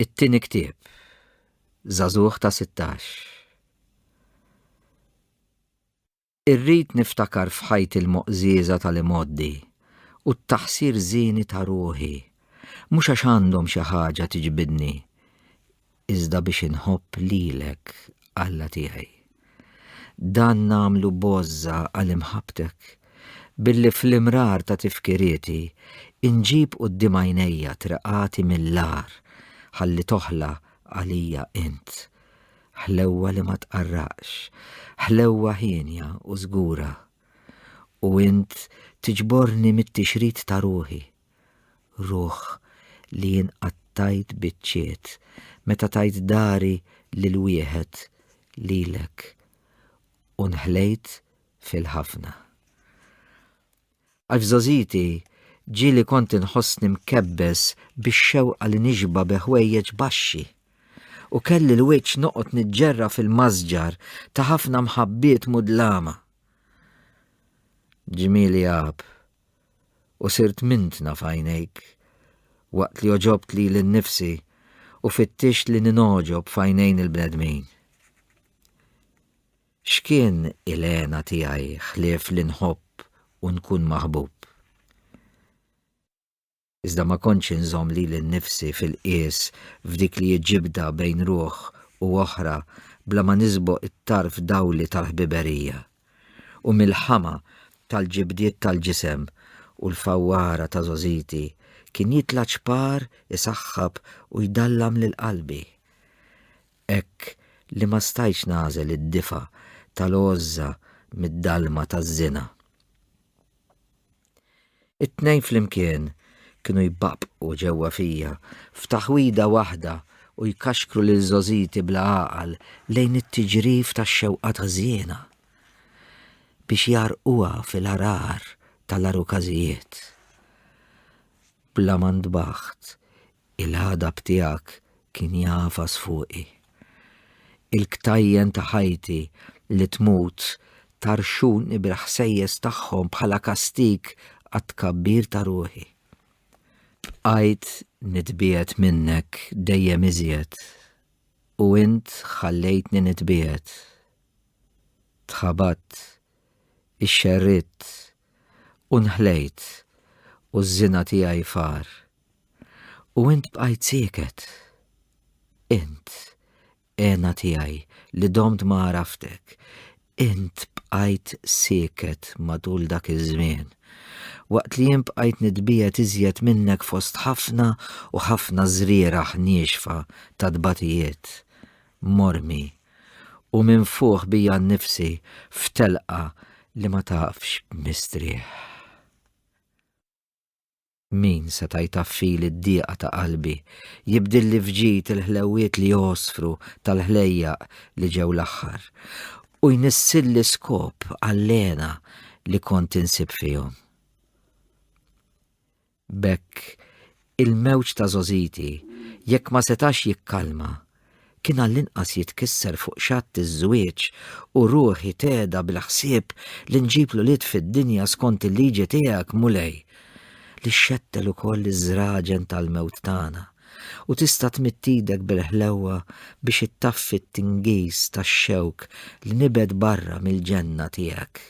It-tieni ktieb. Zazuħ ta' 16. Irrid niftakar f'ħajti l-moqżieża tal-imgħoddi u t-taħsir żieni ta' ruħi, mhux għax għandhom xi ħaġa tiġbidni, iżda biex inħobb lilek, Alla tiegħi. Dan nagħmlu bożża għal imħabbtek, billi fl-imrar ta' tifkirieti inġib quddiem għajnejja triqati mill-agħar ħalli toħla għalija int. Ħlewwa li ma tqarraqx, ħlewwa hienja u żgura. U int tiġborni mit-tixrid ta' ruħi. Ruħ li jien qattajt biċċiet meta tajt dari lil wieħed lilek u nħlejt fil-ħafna. Għax f'żogħżiti ġieli kont inħossni mkebbes bix-xewqa li nixba bi ħwejjeġ baxxi u kelli l-wiċċ noqgħod niġġerra fil-masġar ta' ħafna mħabbiet mudlama. Ġmieli għab u sirt mintna f'għajnejk, waqt li għoġobt lili nnifsi u fittixt li ningħoġob f'għajnejn il-bnedmin. X'kien il-hena tiegħi ħlief li nħobb u nkun maħbub? iżda ma kontx inżomm lili nnifsi fil-qies f'dik li hi ġibda bejn ruħ u oħra bla ma nisboq it-tarf dgħuli tal-ħbiberija. U mill-ħama tal-ġibdiet tal-ġisem u l-fawwara ta' żogħżiti kien jitla' ċpar isaħħab u jdallam lil qalbi. Hekk li ma stajtx nagħżel id-difa' tal-għożża mid-dalma taż-żina. It-tnejn flimkien kienu jbaqqbqu ġewwa fija f'taħwida waħda u jkaxkru lil żgħożiti bla għaqal lejn it-tiġrif tax-xewqat ħżiena biex jgħarrquha fil-għargħar tal-għarukażijiet. Bla ma ntbaħt, Il-ħadab tiegħek kien jagħfas fuqi. Il-ktajjen ta' ħajti li tmut tarxuni bil-ħsejjes tagħhom bħala kastig għat-tkabbir ta' ruħi. Bqajt nitbiegħed minnek dejjem iżjed u int ħallejtni nitbiegħed. Tħabatt, ixxerridt u nħlejt u ż-żina tiegħi far. U int bqajt sieket. Int, għena tiegħi, li domt ma għaraftek, int bqajt sieket matul dak iż-żmien, waqt li jien bqajt nitbiegħed iżjed minnek fost ħafna u ħafna żrieragħ niexfa ta' tbatijiet, mormi, u minfuħ bija nnifsi f'telqa li ma tafx mistrieħ. Min seta' jtaffili d-dieqa ta' qalbi, jibdilli f'ġid il-ħlewwiet li jgħosfru tal-ħlejjaq li ġew l-aħħar, u jnissilli skop għall-hena li kont insib fihom? B'hekk, il-mewġ ta' żgħożiti, jekk ma setax jikkalma, kien għall-inqas jitkisser fuq xatt iż-żwieġ u ruħi teda bil-ħsieb li nġib l-ulied fid-dinja skont il-liġi tiegħek, Mulej, li xxettel ukoll iż-żraġen tal-mewt tagħna, u tista' tmidd idek bil-ħlewwa biex ittaffi t-tingiż tax-xewk li nibgħed barra mill-ġenna tiegħek.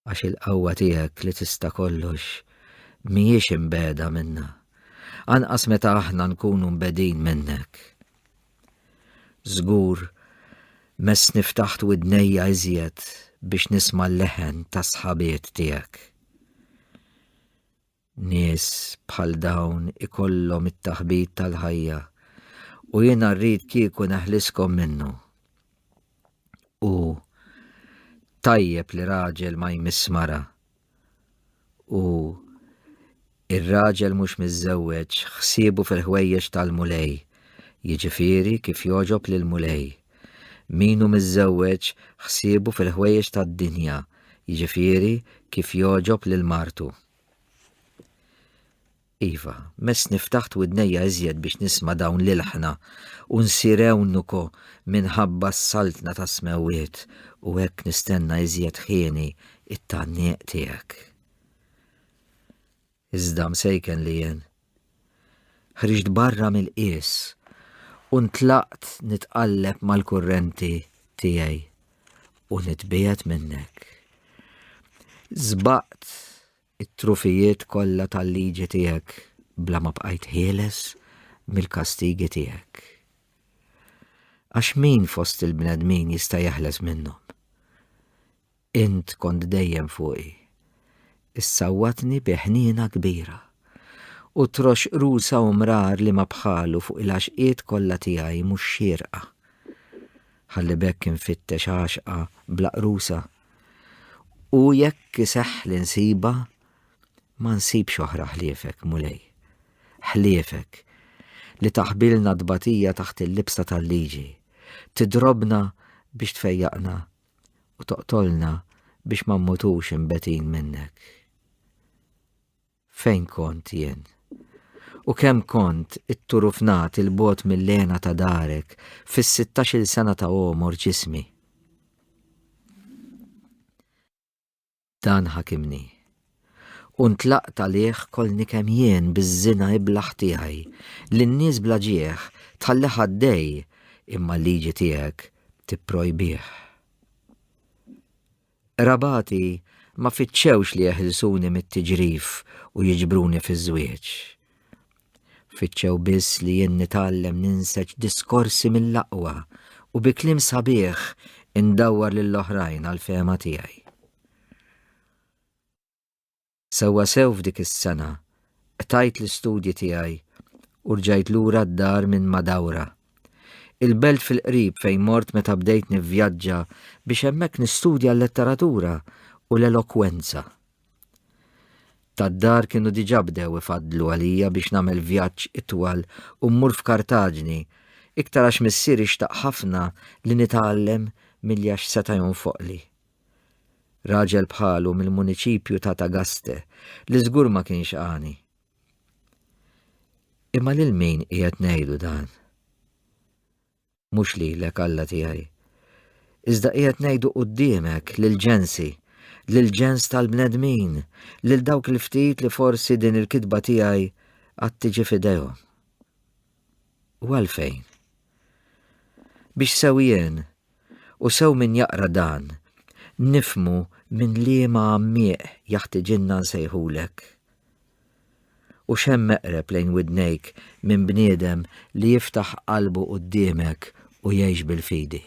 għax il-qawwa tiegħek li tista' kollox mhijiex imbeda minna, anqas meta aħna nkunu mbedin minnek. Żgur, mess niftaħt widnejja iżjed biex nisma' l-leħen tas-sħabiet tiegħek. Nies bħal dawn ikollhom it-taħbit tal-ħajja u jiena rrid kieku neħliskom minnu. U tajjeb li raġel ma jmiss mara. U ir-raġel mhux miżżewweġ ħsiebu fil-ħwejjeġ tal-mulej, jiġifieri kif jogħġob lil mulej. Min hu miżżewweġ ħsiebu fil-ħwejjeġ tad-dinja, jiġifieri kif jogħġob lil martu. Iva, mess niftaħt widnejja iżjed biex nisma dawn l-ilħna u nsir ewnuko minħabba s-saltna ta' smewwiet u hekk nistenna iżjed ħieni it-tgħanniq tiegħek. Iżda msejken li jien, Ħriġt barra mill-qies u ntlaqt nitqalleb mal-kurrenti tiegħi u nitbiegħed minnek. Żbaqt it-trufijiet kollha tal-liġi tiegħek bla ma bqajt ħieles mill-kastigi tiegħek. Għax min fost il-bnedmin jista' jeħles minnhom? Int kont dejjem fuqi. Issawwatni bi ħniena kbira. U troxx qrusa u mrar li ma bħalu fuq il-għaxqiet kollha tiegħi mhux xierqa. Ħalli b'hekk infittex għaxqa bla qrusa. U jekk iseħħ li nsibha, ma nsibx oħra ħliefek, Mulej. Ħliefek, li taħbilna t-tbatija taħt il-libsa tal-liġi, tidrobna biex tfejjaqna u toqtolna biex ma mmutux imbetin minnek. Fejn kont jien? U kemm kont it-turufnat il-bot mill-lena ta' darek fis-16 sena ta' għomor ġismi? Dan ħakimni. U ntlaqt għalih kolni kemm jien biż-żina iblaħ tiegħi li n-nies bla ġieħ tħallih għaddej imma l-liġi tiegħek tipprojbih. Rabati ma fitxewx li jeħilsuni mit-tiġrif u jiġbruni fiż-żwieġ. Fittxew biss li jien nitgħallem ninseġ diskorsi mill-aqwa u bi kliem sabiħ indawwar lill-oħrajn għall-fehma tiegħi. Sewwasew f'dik is-sena qtajt l-istudji tiegħi u rġajt lura d-dar minn Madawra, il-belt fil-qrib fejn mort meta bdejt nivvjaġġa biex hemmhekk nistudja l-letteratura u l-elokwenza. Tad-dar kienu diġà bdew ifaddlu għalija biex nagħmel vjaġġ itwal u mmur f'Kartaġni, iktar għax missieri xtaq ħafna li nitgħallem milli għax seta' jonfoqli. Raġel bħalu mill-muniċipju ta' Tagaste, li żgur ma kienx għani. Imma lil min qiegħed ngħidu dan? mhux lilek, Alla tiegħi. Iżda qiegħed ngħidu quddiemek lill-ġensi, lill-ġens tal-bnedmin, lil dawk il-ftit li forsi din il-kitba tiegħi għad tiġi f'idejhom. U għalfejn? Biex sew jien u sew min jaqra dan, nifmu minn liema għammieq jaħtiġinna nsejħulek. U x'hemm eqreb lejn widnejk minn bniedem li jiftaħ qalbu quddiemek u jgħix bil-fidi?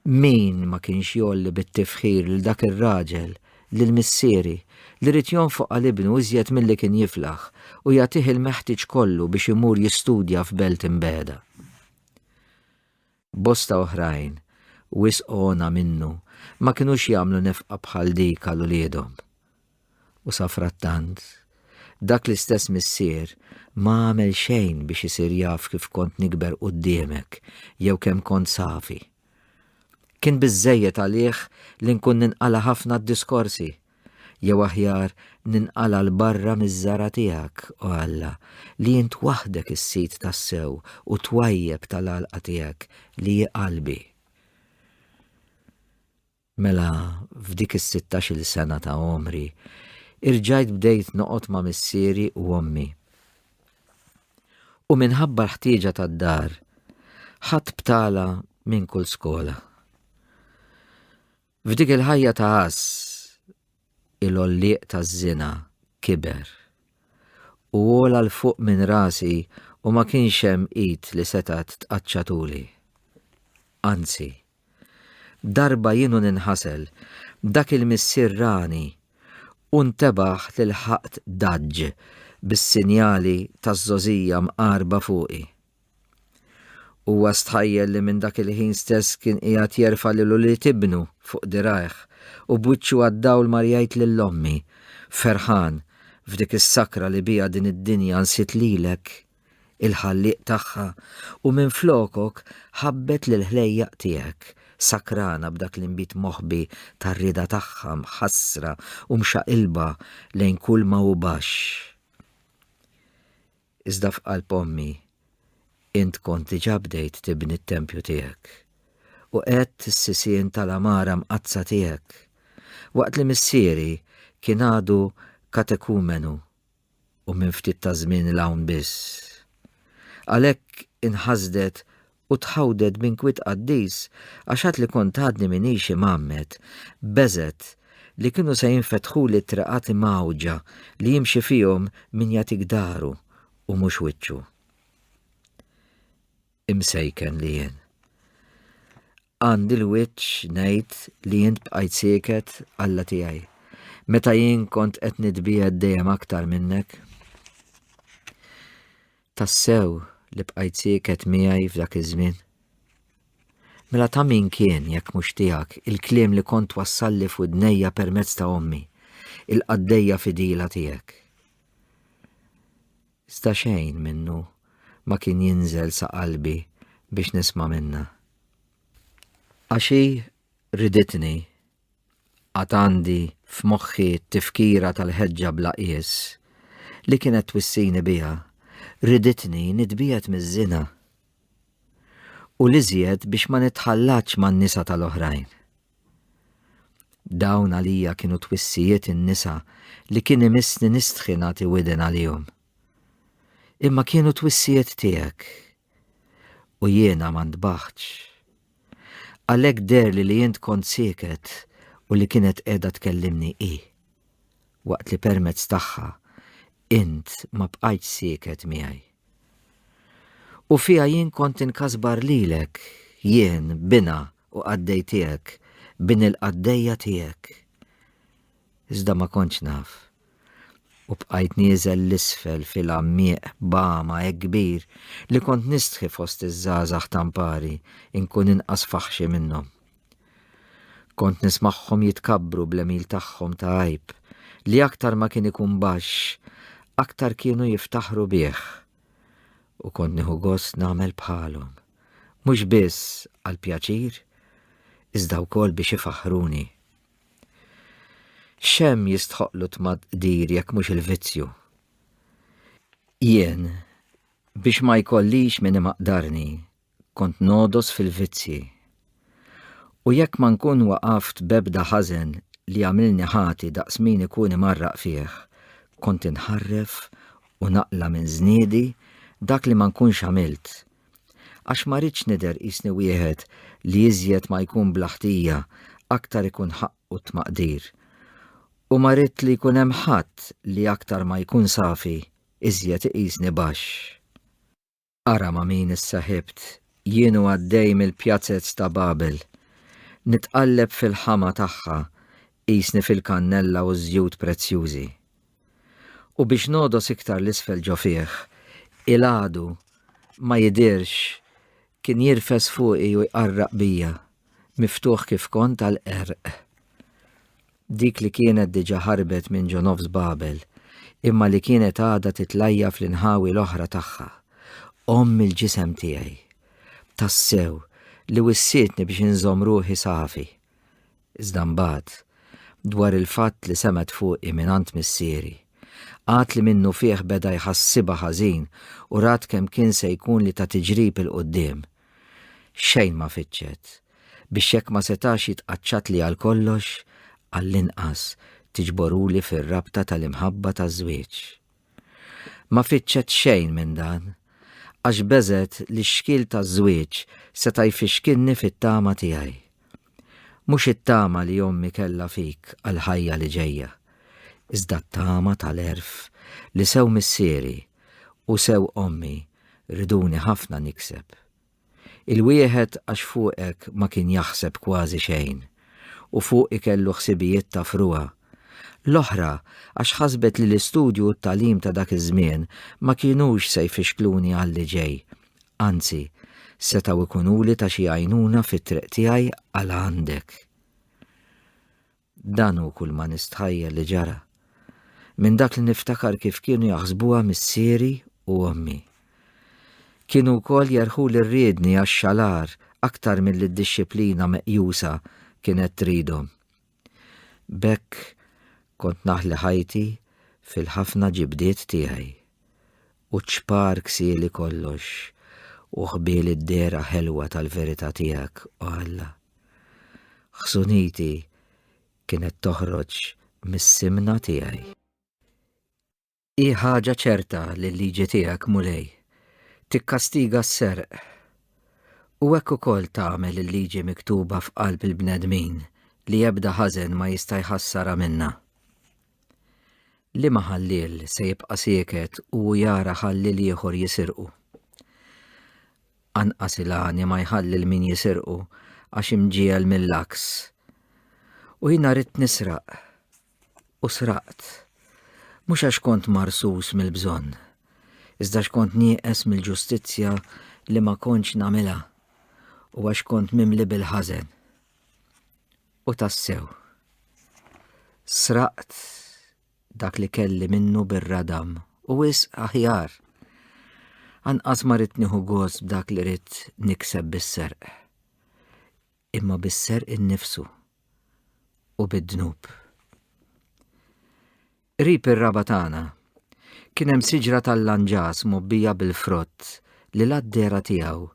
Min ma kienx jgħolli bit-tifħir lil dak ir-raġel, lil missieri, li ried jonfoq għal ibnu iżjed milli kien jiflaħ u jagħtih il-meħtieġ kollu biex imur jistudja f'belt imbiegħda? Bosta oħrajn, wisq għona minnu, ma kinux jagħmlu nefqa bħal dik għal uliedhom. U safrattant, dak l-istess missier ma għamel xejn biex isir jaf kif kont nikber quddiemek jew kemm kont safi. Kien biżżejjed għalih li nkun ninqala ħafna d-diskorsi Jew aħjar ninqala' 'l barra miż-żara' tiegħek, o Alla, li int waħdek is-sid tassew u t-twajjeb tal-għalqa tiegħek li hi qalbi. Mela f'dik is-sittax-il sena ta' għomri, irġajt bdejt noqgħod ma' missieri u ommi. U minħabba l-ħtieġa tad-dar, ħadt btala minn kull skola. F'dik il-ħajja ta' għaż il-għollieq taż-żina kiber u għola l fuq minn rasi u ma kienx hemm id li setgħet tqaċċa tuli. Anzi, darba jienu ninħasel, dak il-missier rani u ntebaħ li lħaqt daġġ bis-sinjali taż-żgħożija mqarba fuqi. Huwa stħajjel li minn dak il-ħin stess kien qiegħed jerfa' lil ulied ibnu fuq dirgħajh u b'wiċċu għad-dawl mar jgħid lil ommi, ferħan, f'dik is-sakra li biha din id-dinja nsiet lilek, il-Ħallieq tagħha, u minflokok ħabbet lill-ħlejjaq tiegħek, sakrana b'dak l-inbid moħbi tar-rieda tagħha mħassra u mxaqilba lejn kulma hu baxx. Iżda f'qalb ommi int kont diġà bdejt tibni t-tempju tiegħek, u qegħedt is-sisien tal-għamara mqaddsa tiegħek, waqt li missieri kien għadu katekumenu u minn ftit taż-żmien 'l hawn biss. Għalhekk inħasdet u tħawdet b'inkwiet qaddis għax għad li kont għadni m'iniex imgħammed, beżgħet li kienu se jinfetħuli t-triqat imgħawġa li jimxi fihom min jagħtik dahru u mhux wiċċu. Imsejken li jien. Għandi l-wiċċ ngħid li jint bqajt sieket Alla tiegħi meta jien kont qed nitbiegħed dejjem aktar minnek. Tassew li bqajt sieket miegħi f'dak iż-żmien? Mela ta' min kien jekk mhux tiegħek il-kliem li kont twassalli f'widnejja permezz ta' ommi, il-qaddejja fidila tiegħek? Iżda xejn minnu ma kien jinżel sa qalbi biex nisma' minna. Għax hi riditni Għad għandi f'moħħi t-tifkira tal-ħeġġa bla qies li kienet twissini biha, riditni nitbiegħed miż-żina u l-iżjed biex ma nitħallatx man-nisa tal-oħrajn. Dawn għalija kienu twissijiet in-nisa li kien imissni nistħi nagħti widen għalihom. Imma kienu twissijiet tiegħek u jiena ma ntbaħtx. Għalhekk derli li int kont sieket u li kienet qiegħda tkellimni hi. Waqt li permezz tagħha int ma bqajtx sieket miegħi. U fiha jien kont inkasbar lilek, jien, binha u qaddej tiegħek, bin il-qaddejja tiegħek. iżda ma kontx naf. U bqajt nieżel 'l isfel fil-għammieq b'għama hekk kbir li kont nistħi fost iż-żgħażagħ ta' mpari nkun inqas faħxi minnhom. Kont nismagħhom jitkabbru bl-għemil tagħhom ta' għajb li aktar ma kien ikun baxx aktar kienu jiftaħru bih. U kont nieħu gost nagħmel bħalhom, mhux biss għall-pjaċir, iżda wkoll biex ifaħħruni. Xem jistħoqlu tmad-dir jekk mhux il-vizzju? Jien, biex ma jkollix min imaqdarni, kont nodos fil-vizzji. U jekk ma nkun waqaft bebda ħażen li għamilni ħati daqs min ikun imarraq fih, kont inħarref u naqla minn żniedi dak li ma nkunx għamilt Għax ma rridx nidher qisni wieħed li iżjed ma jkun bla ħtija, aktar ikun ħaqqu t-tmaqdir. U ma ridt li jkun hemm ħadd li aktar ma jkun safi, iżjed iqisni baxx. Ara ma' min issaħibt, jien u għaddej mill-pjazez ta' Babel. Nitqalleb fil-ħama tagħha, qisni fil-kannella u ż-żjut prezzjużi. U biex nogħdos iktar 'l isfel ġo fih, il-għadu ma jidhirx kien jirfes fuqi u jqarraq bija, miftuħ kif kont għall-qerq. Dik li kienet diġà ħarbet minn ġo nofs Babel, imma li kienet għadha titlajja fl-inħawi l-oħra tagħha, omm il-ġisem tiegħi. Tassew, li wissietni biex inżomm ruħi safi. Iżda mbagħad, dwar il-fatt li semgħet fuqi mingħand missieri, għad li minnu fih beda jħassibha ħażin u rat kemm kien se jkun li ta tiġrib 'il quddiem. Xejn ma fittxet, biex jekk ma setax jitqaċċatli għal kollox, għall-inqas tiġborhuli fir-rabta tal-imħabba taż-żwieġ. Ma fittxet xejn minn dan, għax beżgħet li x-xkiel taż-żwieġ seta' jfixkilni fit-tama tiegħi. Mhux it-tama li ommi kellha fik għall-ħajja li ġejja, iżda t-tama tal-għerf li sew missieri u sew ommi riduni ħafna nikseb. Il-wieħed għax fuqek ma kien jaħseb kważi xejn, u fuqi kellu ħsibijiet ta' frugħa. L-oħra għax ħasbet li l-istudju u t-tagħlim ta' dak iż-żmien ma kinux se jfixkluni għalli ġej, anzi, setgħu jkunuli ta' xi għajnuna fit-triq tiegħi għal għandek. Dan hu kull ma nistħajjel li ġara. Minn dak li niftakar kif kienu jaħsbuha missieri u ommi. Kienu wkoll jerħu li rriedni għax-xalar aktar milli d-dixxiplina meqjusa kienet tridhom. B'hekk kont naħli ħajti fil-ħafna ġibdiet tiegħi. u ċpar ksieli kollox u ħbiel id-dehra ħelwa tal-verità tiegħek, o Alla. Ħsuniti kienet toħroġ mis-simna tiegħi. Hi ħaġa ċerta li l-liġi tiegħek, Mulej, tikkastiga s-serq, u hekk ukoll tagħmel il-liġi miktuba f'qalb il-bnedmin li ebda ħażen ma jista' jħassarha minnha. Liema ħalliel se jibqa' sieket u jara ħalliel ieħor jisirqu? Anqas il-għani ma jħalli l min jisirqu għax imġiegħel mill-għaks. U jiena ridt nisraq. U sraqt. Mhux għax kont marsus mill-bżonn, iżda x'kont nieqes mill-ġustizzja li ma kontx nagħmilha u għax kont mimli bil-ħażen. U tassew, sraqt dak li kelli minnu bir-radam u wis aħjar. Anqas ma rrid nieħu gost b'dak li rrid nikseb bis-serq. Imma bis-serq innifsu u bid-dnub. Qrib ir-raba' tagħna, kien hemm siġra tal-lanġas mgħobbija bil-frott li la d-dehra tiegħu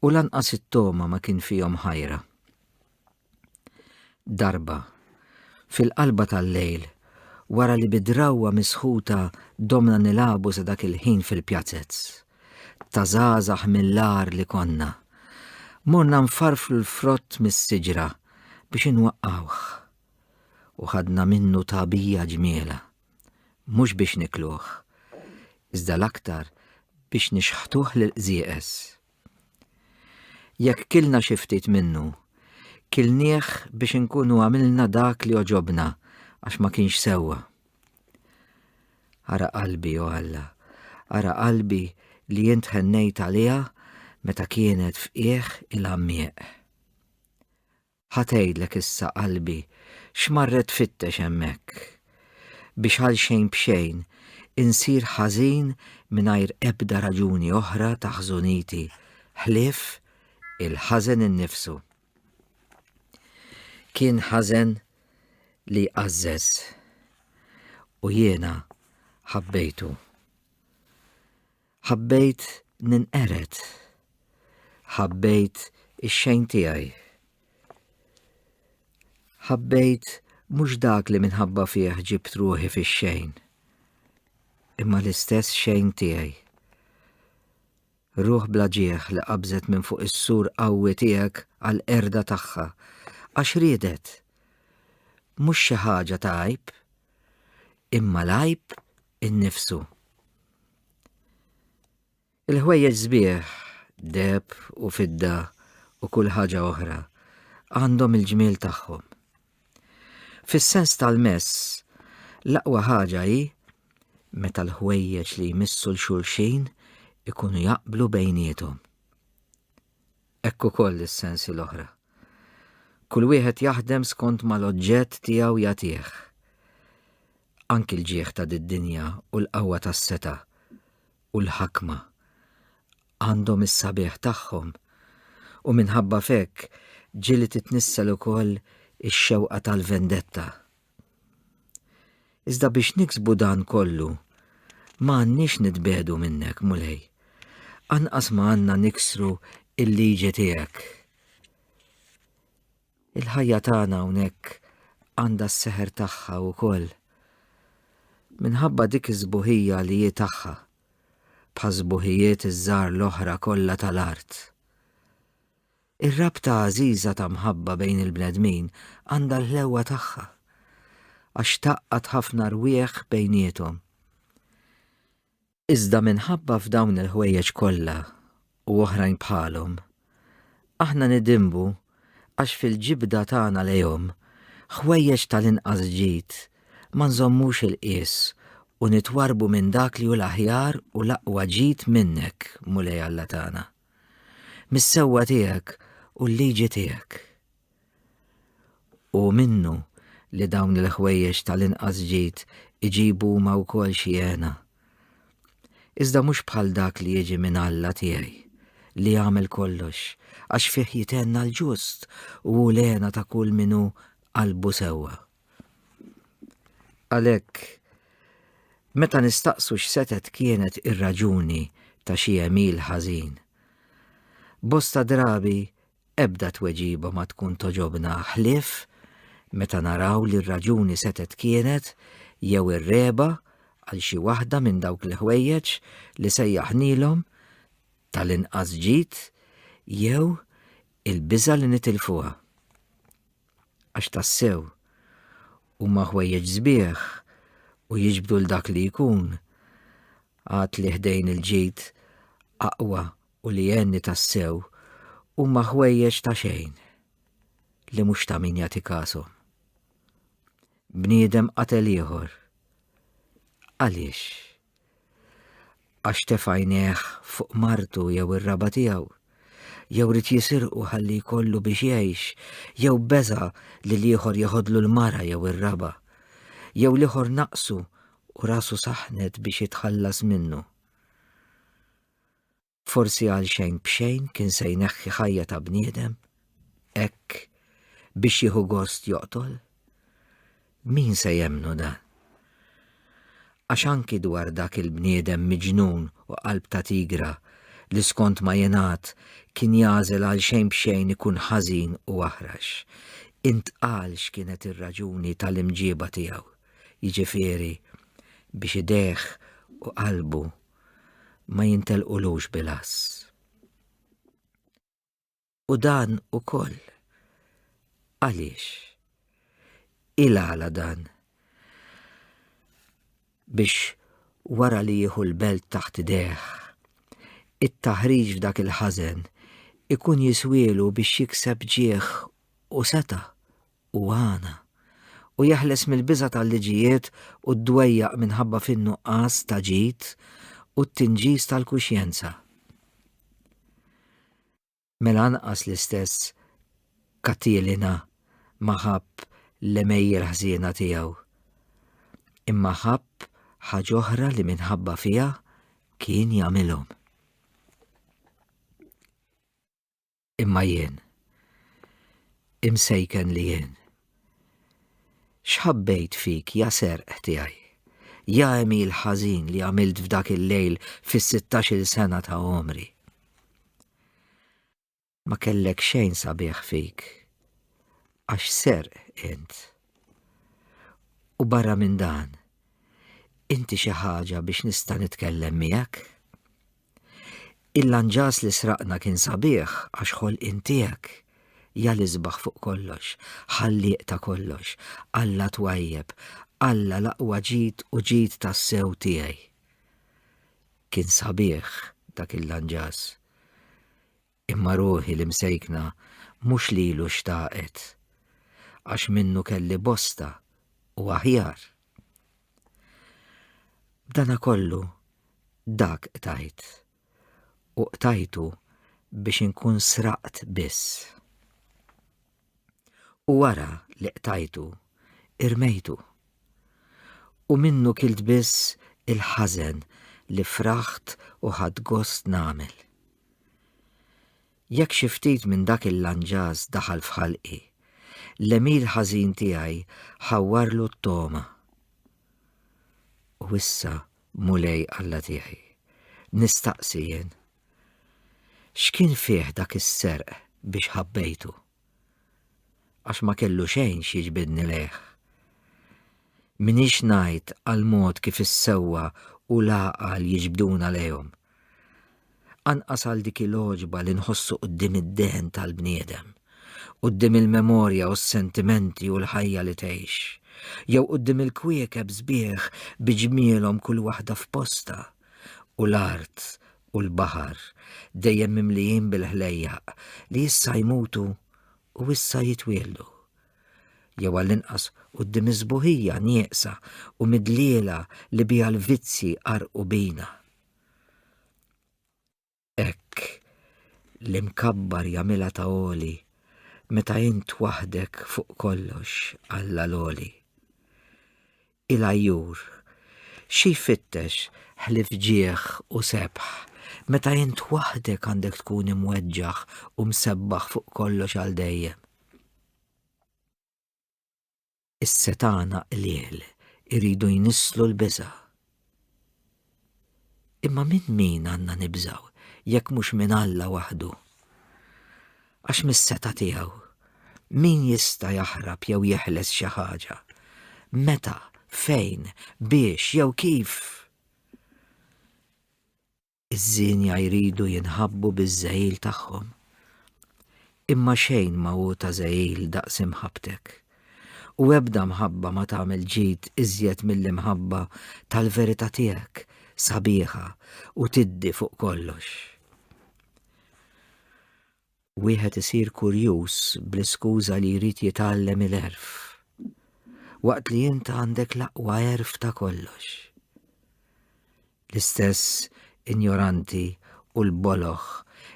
u lanqas it-togħma ma kien fihom ħajra. Darba, fil-qalba tal-lejl, wara li bi drawwa misħuta domna nilagħbu sa dak il-ħin fil-pjazez, ta' żgħażagħ mill-agħar li konna, morna nfarflu l-frott mis-siġra biex inwaqqgħuh. u ħadna minnu tagħbija ġmielha, mhux biex nikluh, iżda l-aktar biex nixħtuh lill-qżieqeż. Jekk kilna xi ftit minnu, kilnieh biex inkunu għamilna dak li għoġobna għax ma kienx sewwa. Ara qalbi, o Alla, ara qalbi li int ħennejt għaliha meta kienet f'qiegħ il-għammieq. Ħa tgħidlek issa qalbi x'marret tfittex hemmhekk. Biex għal xejn b'xejn insir ħażin mingħajr ebda raġuni oħra ta' ħżuniti ħlief il-ħażen innifsu. Kien ħażen li jqażżeż u jiena ħabbejtu. Ħabbejt ninqered. Ħabbejt ix-xejn tiegħi. Ħabbejt mhux dak li minħabba fih ġibt ruħi fix-xejn, imma l-istess xejn tiegħi. Ruħ bla ġieħ li qabżet minn fuq is-sur qawwi tiegħek għal erda tagħha, għax riedet. Mhux xi ħaġa ta' għajb, imma l-għajb innifsu. Il-ħwejjeġ sbieħ, deheb u fidda u kull ħaġa oħra għandhom il-ġmiel tagħhom. Fis-sens tal-mess, l-aqwa ħaġa hi meta l-ħwejjeġ li jmissu l-xulxin ikunu jaqblu bejniethom. Ekku koll is-sensi l-oħra. Kull wieħed jaħdem skont mal-oġġett tiegħu jagħtih. anki l-ġieħ ta' did-dinja u l-qawwa tas-setgħa u l-ħakma għandhom is-sabiħ tagħhom, u minħabba f'hekk ġie li titnissel ukoll ix-xewqa tal-vendetta. Iżda biex niksbu dan kollu, ma għandniex nitbiegħdu minnek, Mulej. Anqas ma għandna niksru l-liġi tiegħek. Il-ħajja tagħna hawnhekk għandha s-seħer tagħha wkoll. Minħabba dik is-sbuħija li hi tagħha, bħas-sbuħijiet iż-żgħar l-oħra kollha tal-art. Ir-rabta għażiża ta' mħabba bejn il-bnedmin għandha l-ħlewwa tagħha, għax taqqad ħafna rwieħ bejniethom. Iżda minħabba f'dawn il-ħwejjeġ kollha u oħrajn bħalhom, aħna nidinbu għax fil-ġibda tagħna lejhom ħwejjeġ tal-inqas ġid ma nżommux il-qies u nitwarrbu minn dak li hu l-aħjar u l-aqwa ġid minnek, Mulej Alla tagħna, mis-sewwa tiegħek u l-liġi tiegħek. Hu minnu li dawn il-ħwejjeġ tal-inqas ġid iġibu huma wkoll xi hena. Iżda mhux bħal dak li jiġi minn Alla tiegħi, li jagħmel kollox, għax fih jithenna l-ġust u hu l-hena ta' kull min hu qalbu sewwa. Għalhekk, meta nistaqsu x'setgħet kienet ir-raġuni ta' xi għemil ħażin, bosta drabi Ebda tweġiba ma tkun togħġobna ħlief meta naraw li r-raġuni setgħet kienet jew ir-regħba għal xi waħda minn dawk l-ħwejjeġ li sejjaħnielhom tal-inqas ġid jew il-biża' li nitilfuha. Għax tassew, huma ħwejjeġ sbieħ u jiġbdu 'l dak li jkun, għad li ħdejn il-ġid aqwa u li għenni tassew huma ħwejjeġ ta' xejn li mhux ta' min jagħti kasom. Bniedem qatel ieħor. Għaliex? Għax tefajneħ fuq martu jew ir-raba tiegħu, jew rid jisirqu ħalli jkollu biex jgħix, jew beża li l-ieħor jeħodlu l-mara jew ir-raba, jew l-ieħor naqsu u rasu saħnet biex jitħallas minnu. Forsi għal xejn b'xejn kien se jneħħi ħajja ta' bniedem, hekk biex jieħu gost joqtol? Min se jemmnu dan? Għax anki dwar dak il-bniedem miġnun u qalb ta' tigra li skont ma jingħad kien jagħżel għal xejn b'xejn ikun ħażin u aħrax, intqal x'kienet ir-raġuni tal-imġieba tiegħu, jiġifieri biex idejh u qalbu ma jintelqulux bil-ass. U dan ukoll. Għaliex? Il-għala dan? Biex wara li jieħu l-belt taħt deħ, it-taħriġ f'dak il-ħażen ikun jiswielu biex jikseb ġieħ u seta' u għana, u jeħles mill-biża' tal-liġijiet u d-dwejjaq minħabba fin-nuqqas ta' ġid u t-tinġis tal-kuxjenza. Mela anqas l-istess Katilina ma ħabb l-għemejjel ħżiena tiegħu, imma ħabb ħaġ'oħra li minħabba fiha kien jagħmilhom. Imma jien, imsejken li jien, xħabbejt fik ja serq tiegħi, ja emil ħażin li għamilt f'dak il-lejl fis-16 sena ta' omri. Ma kellek xejn sabiħ fik, għax serq int. U barra minn dan, inti xi ħaġa biex nista' nitkellem miegħek? Il-lanġas li sraqna kien sabiħ għax ħolqien tiegħek. Ja l-isbaħ fuq kollox, Ħallieq ta' kollox, Alla twajjeb, Alla l-aqwa ġid u ġid tassew tiegħi. Kien sabiħ dak il-lanġas. Imma ruħi l-imsejkna mhux lilu xtaqet, għax minnu kelli bosta u aħjar. B'dana kollu dak qtajt u qtajtu biex inkun sraqt biss. U wara li qtajtu irmejtu. U minnu kilt biss il-ħażen li fraħt u ħadd gost nagħmel. Jekk xi ftit minn dak il-lanġas daħal f'ħalqi, l-għemil ħażin tiegħi ħawwarlu t-togħma. U issa, Mulej Alla tiegħi, nistaqsi jien, x'kien fih dak is-serq biex ħabbejtu? għax ma kellu xejn x'jiġbidni lejh. Minix ngħid għal mod kif is-sewwa u l-għaqal jiġbduna lejhom. Anqas għal dik il-għoġba li nħossu quddiem id-dehen tal-bniedem, quddiem il-memorja u s-sentimenti u l-ħajja li tgħix, jew quddiem il-kwiekeb sbieħ bi ġmielhom kull waħda f'postha u l-art u l-baħar dejjem mimlijin bil-ħlejjaq li issa jmutu u issa jitwieldu. Jew għall-inqas quddiem is-sbuħija nieqsa u midliela li biha l-vizzji qarqu bina. Hekk l-imkabbar jagħmilha ta' għoli meta int waħdek fuq kollox Alla l-għoli. Il-għajjur, xi jfittex ħlief ġieħ u sebħ, meta int waħdek għandek tkun imweġġaħ u msebbaħ fuq kollox għal dejjem? Is-setgħana qliel iridu jnisslu l-biża'. Imma minn min għandna nibżgħu jekk mhux minn Alla waħdu? Għax mis-setgħa tiegħu, min jista' jaħrab jew jeħles xi ħaġa? Meta, fejn, biex jew kif? Iż-żienja jridu jinħabbu biż-żegħil tagħhom. Imma xejn ma hu ta' żegħil daqs imħabbtek. U ebda mħabba ma tagħmel ġid iżjed mill-imħabba tal-verità tiegħek, sabiħa u tiddi fuq kollox. Wieħed isir kurjuż bl-iskuża li jrid jitgħallem il-għerf, waqt li int għandek l-aqwa għerf ta' kollox. L-istess injoranti u l-boloh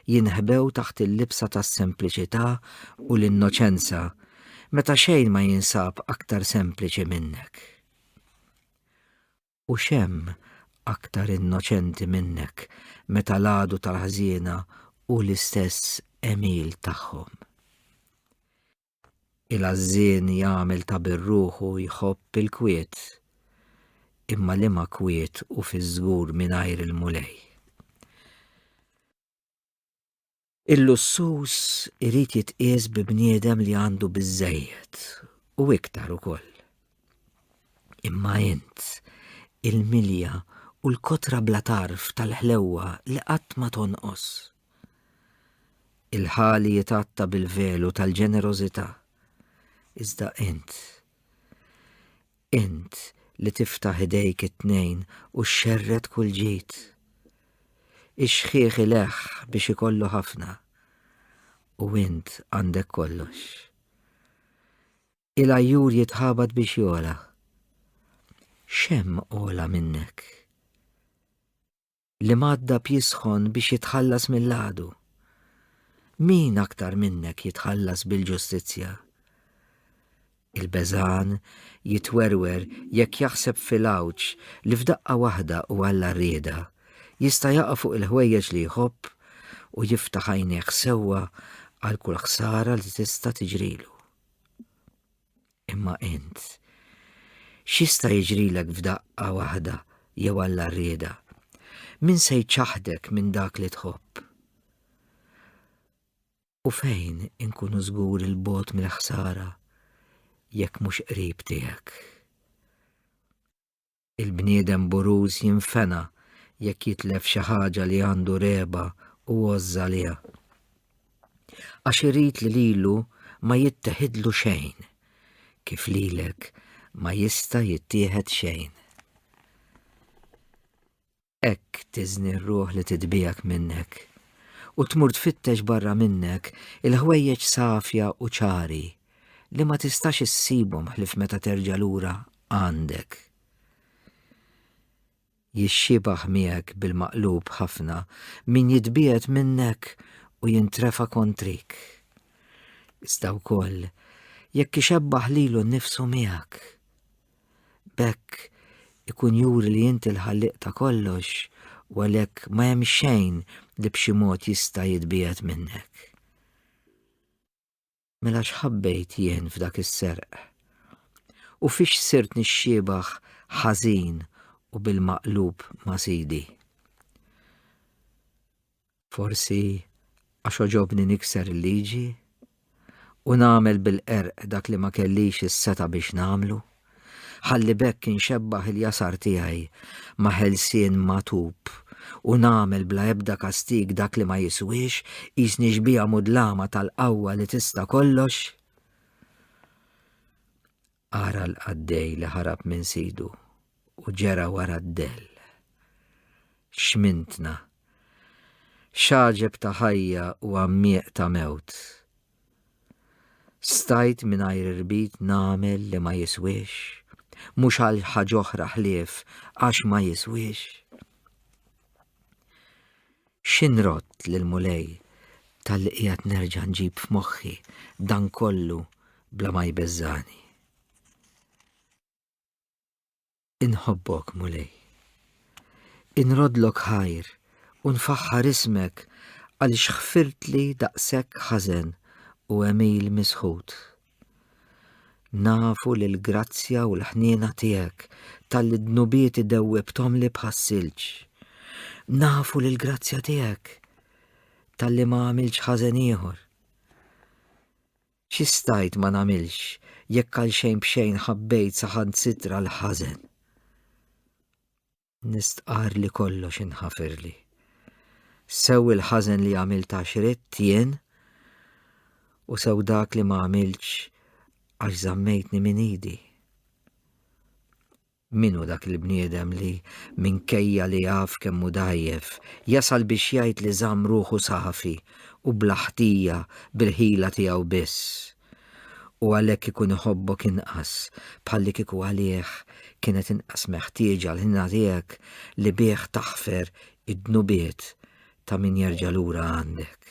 jinħbew taħt il-libsa tas-sempliċità u l-innoċenza meta xejn ma jinsab aktar sempliċi minnek. U x'hemm aktar innoċenti minnek meta l-għadu tal-ħżiena hu l-istess għemil tagħhom? Il-għażżien jagħmel ta' birruħu jħobb il-kwiet, imma liema kwiet hu fiż-żgur mingħajr il-Mulej? Il-lussus irid jitqies bi bniedem li għandu biżżejjed u iktar ukoll. Imma int, il-milja u l-kotra bla tarf tal-ħlewwa li qatt ma tonqos. Il-ħali jitgħatta bil-velu tal-ġenerożità. Iżda int, int li tiftaħ idejk it-tnejn u xxerred kull ġid. Ix-xħieħ ileħħ biex ikollu ħafna u int għandek kollox. Il-ajjur jitħabat biex jola. Xem ola minnek. li madda b'jisħon biex jitħallas mill-għadu. Min aktar minnek jitħallas bil-ġustizzja? Il-beżan jitwerwer jekk jaħseb fil-għawġ li f'daqqa waħda u għalla rieda jista' jaqa' fuq il-ħwejjeġ li jħobb u jiftaħ għajnejh sewwa għal kull ħsara li tista' tiġrilu. Imma int, x'jista' jiġrilek f'daqqa waħda jew alla rieda? Min se jċaħdek minn dak li tħobb? U fejn inkunu żgur il-bot mill-ħsara jekk mhux qrib tiegħek? Il-bniedem buruż jinfena jekk jitlef xi ħaġa li għandu regħba u għożża għaliha. Għax irid li lilu ma jitteħidlu xejn, kif lilek ma jista' jittieħed xejn. Hekk tiżni r-ruħ li titbiegħek minnek u tmur tfittex barra minnek il-ħwejjeġ safja u ċari li ma tistax issibhom ħlif meta terġa' lura għandek. Jixxibaħ miegħek bil-maqlub ħafna min jitbiegħed minnek u jintrefa kontrik. Iżda wkoll jekk ixebbaħ lilu nnifsu miegħek. B'hekk ikun juri li inti l-Ħallieq ta' kollox u għalhekk ma hemm xejn li b'xi mod jista' jitbiegħed minnek. Mela x'ħabbejt jien f'dak is-serq? U fiex sirt nixxiebaħ ħażin u bil-maqlub ma' Sidi? Forsi għax għoġobni nikser il-liġi u nagħmel bil-qerq dak li ma kellix is-setgħa biex nagħmlu, ħalli b'hekk inxebbaħ il-jasar tiegħi ma' ħelsien magħtub u nagħmel bla ebda kastig dak li ma jiswiex, qisni xbieha mudlama tal-qawwa li tista' kollox? Ara l-qaddej li ħarab minn sidu u ġera wara d-dell. X'mintna! X'għaġeb ta' ħajja u għammieq ta' mewt! Stajt mingħajr irbit nagħmel li ma jiswiex, mhux għal ħaġ'oħra ħlief għax ma jiswiex. X'inrodd lill-Mulej talli qiegħed nerġa' nġib f'moħħi dan kollu bla ma jbeżżagħni? Inħobbok, Mulej. Inroddlok ħajr u nfaħħar ismek għaliex ħfirtli daqshekk ħażen u għemil misħut. Nafu li l-grazzja u l-ħniena tiegħek tal-li dnubieti dewwibthomli bħas-silġ. Nafu li l-grazzja tiegħek tal-li ma għamilx ħażen ieħor. Xi stajt ma nagħmilx jekk għal xejn b'xejn ħabbejt saħansitra l-ħażen. Nistqarr li kollox inħafirli. Sew il-ħażen li għamilt għax ridt jien u sew dak li ma għamiltx għax żammejtni minn idi. Minu dak il-bniedem li minkejja li jaf kemm hu dajjef, jasal biex jgħid li żamm ruħu safi u bla ħtija bil-ħila tiegħu biss u għalhekk ikun iħobbok inqas, bħalli kieku għalih kienet inqas meħtieġa l-ħniena tiegħek li bih taħfer id-dnubiet ta' min jerġa' lura għandek.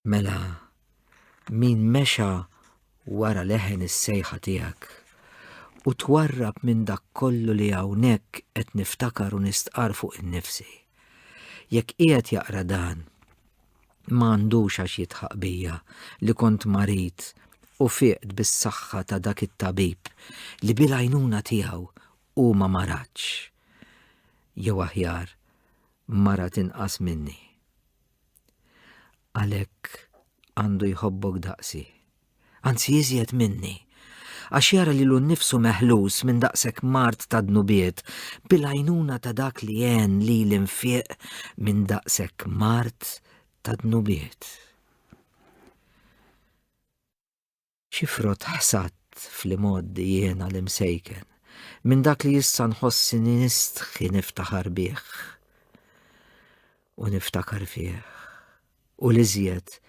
Mela, min mexa wara leħen is-sejħa tiegħek u twarrab minn dak kollu li hawnhekk qed niftakar u nistqar fuq innifsi. Jekk qiegħed jaqra dan, ma għandux għax jidħaq bija li kont marid u fieqt bis-saħħa ta' dak it-tabib li bil-għajnuna tiegħu hu ma maratx. Jew aħjar, marat inqas minni. Għalhekk għandu jħobbok daqsi. anzi iżjed minni, għax jara lilu nnifsu meħlus minn daqshekk mard ta' dnubiet bil-għajnuna ta' dak li għen lili nfiq minn daqshekk mard ta' dnubiet. Xi frott ħsadt fl-imgħoddi jiena l-imsejken minn dak li issa nħossini nistħi niftaħar bih u niftakar fih. u l-iżjed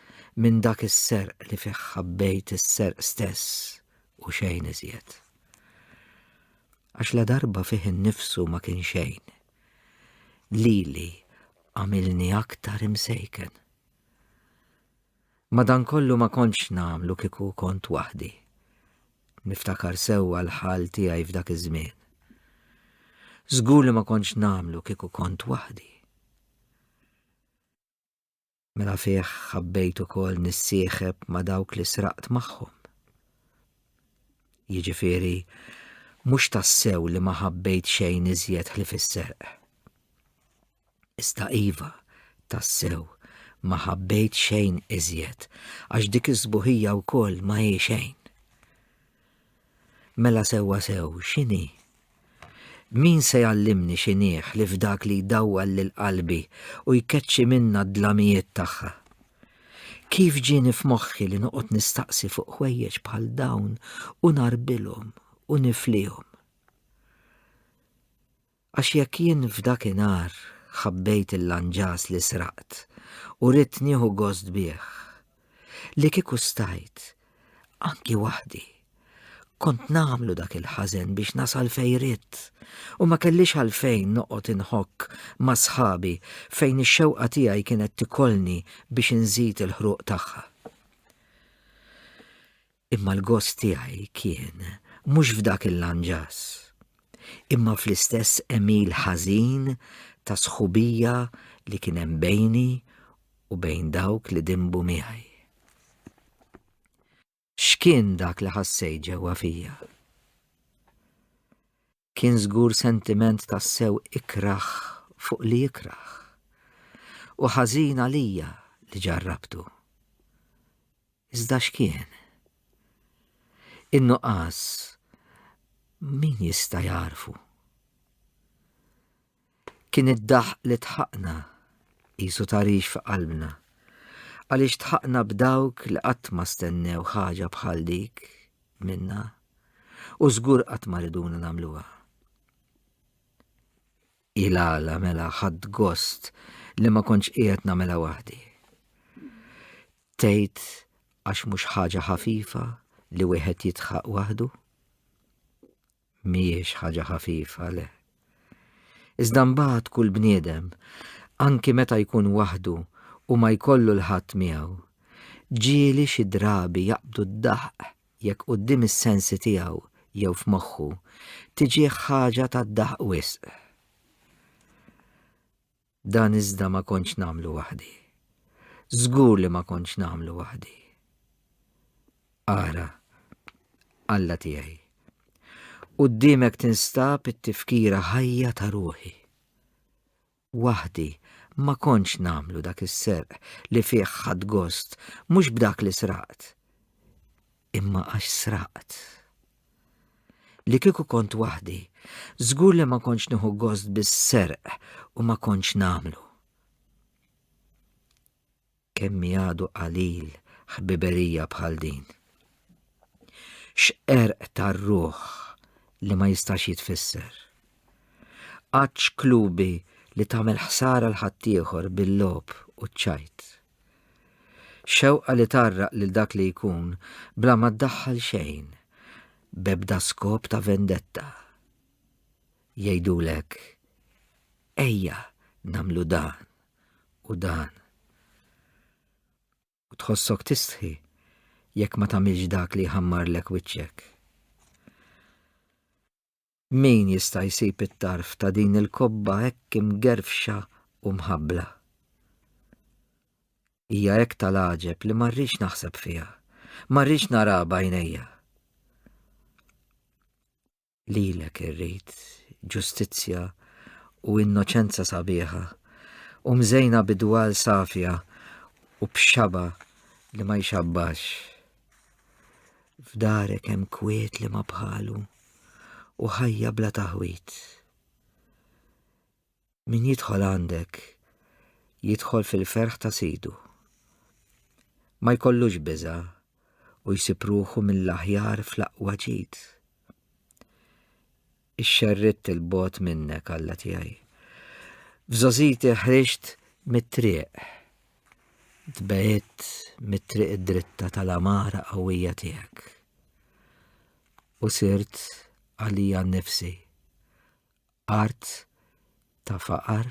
minn dak is-serq li fih ħabbejt is-serq stess u xejn iżjed. Għax la darba fih innifsu ma kien xejn. Lili għamilni aktar imsejken. Madankollu ma kontx nagħmlu kieku kont waħdi. Niftakar sewwa l-ħal tiegħi f'dak iż-żmien. Żgur li ma kontx nagħmlu kieku kont waħdi. Mela fih ħabbejt ukoll nissieħeb ma' dawk li sraqt magħhom. Jiġifieri, mhux tassew li ma ħabbejt xejn iżjed ħlif is-serq. Iżda iva, tassew, ma ħabbejt xejn iżjed, għax dik is-sbuħija wkoll ma hi xejn. Mela sewwa sew, x'inhi? Min se jgħallimni x'inhih li f'dak li jdawwal lil qalbi u jkeċċi minnha d-dlamijiet tagħha? Kif ġieni f'moħħi li noqgħod nistaqsi fuq ħwejjeġ bħal dawn u ngħarbilhom u niflihom? Għax jekk jien f'dakinhar ħabbejt il-lanġas li sraqt u ridt nieħu gost bih, li kieku stajt, anki waħdi, kont nagħmlu dak il-ħażen biex nasal fejn ridt u ma kellix għalfejn noqgħod inħokk ma' sħabi fejn ix-xewqa tiegħi kienet tikolni biex inżid il-ħruq tagħha. Imma l-gost tiegħi kien mhux f'dak il-lanġas, imma fl-istess għemil ħażin ta' sħubija li kien hemm bejni u bejn dawk li dinbu miegħi. X'kien dak li ħassejt ġewwa fija? kien żgur sentiment tassew ikrah fuq li jikrah. U ħażin għalija li ġarrabtu. Iżda x'kien? In-nuqqas min jista' jarfu? Kien id-daħq li tħaqna, qisu tarix fi qalbna, għaliex tħaqna b'dawk li qatt ma stennew ħaġa bħal dik minna u żgur qatt ma riduna nagħmluha. Ilala mela ħadd gost li ma kontx qiegħed nagħmilha waħdi. Tgħid għax mhux ħaġa ħafifa li wieħed jitħaq waħdu? mhijiex ħaġa ħafifa le. Iżda mbagħad kull bniedem, anki meta jkun waħdu u ma jkollu l-ħadd miegħu, ġieli xi drabi jaqbdu d-daħq jekk quddiem is-sensi tiegħu jew f'moħħu tiġih ħaġa tad-daħq wisq. Dan iżda ma kontx nagħmlu waħdi. Żgur li ma kontx nagħmlu waħdi. Ara, Alla tiegħi, quddiemek tinstab it-tifkira ħajja ta' ruħi. Waħdi ma kontx nagħmlu dak is-serq li fih ħadd gost mhux b'dak li sraqt, imma għax sraqt. Li kieku kont waħdi, żgur li ma kontx nieħu gost bis-serq u ma kontx nagħmlu. Kemm għadu qalil ħbiberija bħal din. X'erq tar-ruħ li ma jistax jitfisser. Qaċ klubi li tagħmel ħsara l-ħaddieħor bil-lob u ċajt. Xewqa li tgħarraq lil dak li jkun bla ma ddaħħal xejn, b'ebda skop ta' vendetta. Jgħidulek, ejja nagħmlu dan u dan. U tħossok tistħi jekk ma tagħmilx dak li jħammarlek wiċċek. Min jista' jsib it-tarf ta' din il-kobba hekk imgerfxa u mħabbla? Hija hekk tal-għaġeb li ma rridx naħseb fiha, ma rridx naraha b'għajnejja. Lilek irrid ġustizzja u innoċenza sabiħa u mżejna bidwal safja u b'xaba li ma jxabbax. F'darek hemm kwiet li ma bħalu u ħajja bla taħwit. Min jidħol għandek jidħol fil-ferħ ta' sidu. Ma jkollux biża u jsib ruħu mill-aħjar fl-aqwa ġid. ixxerridt il-bogħod minnek, Alla tiegħi. F'żożiti ħriġt mit-triq. Tbegħidt mit-triq id-dritta tal-amara qawwija tiegħek. U sirt għalija nnifsi. Art ta' faqar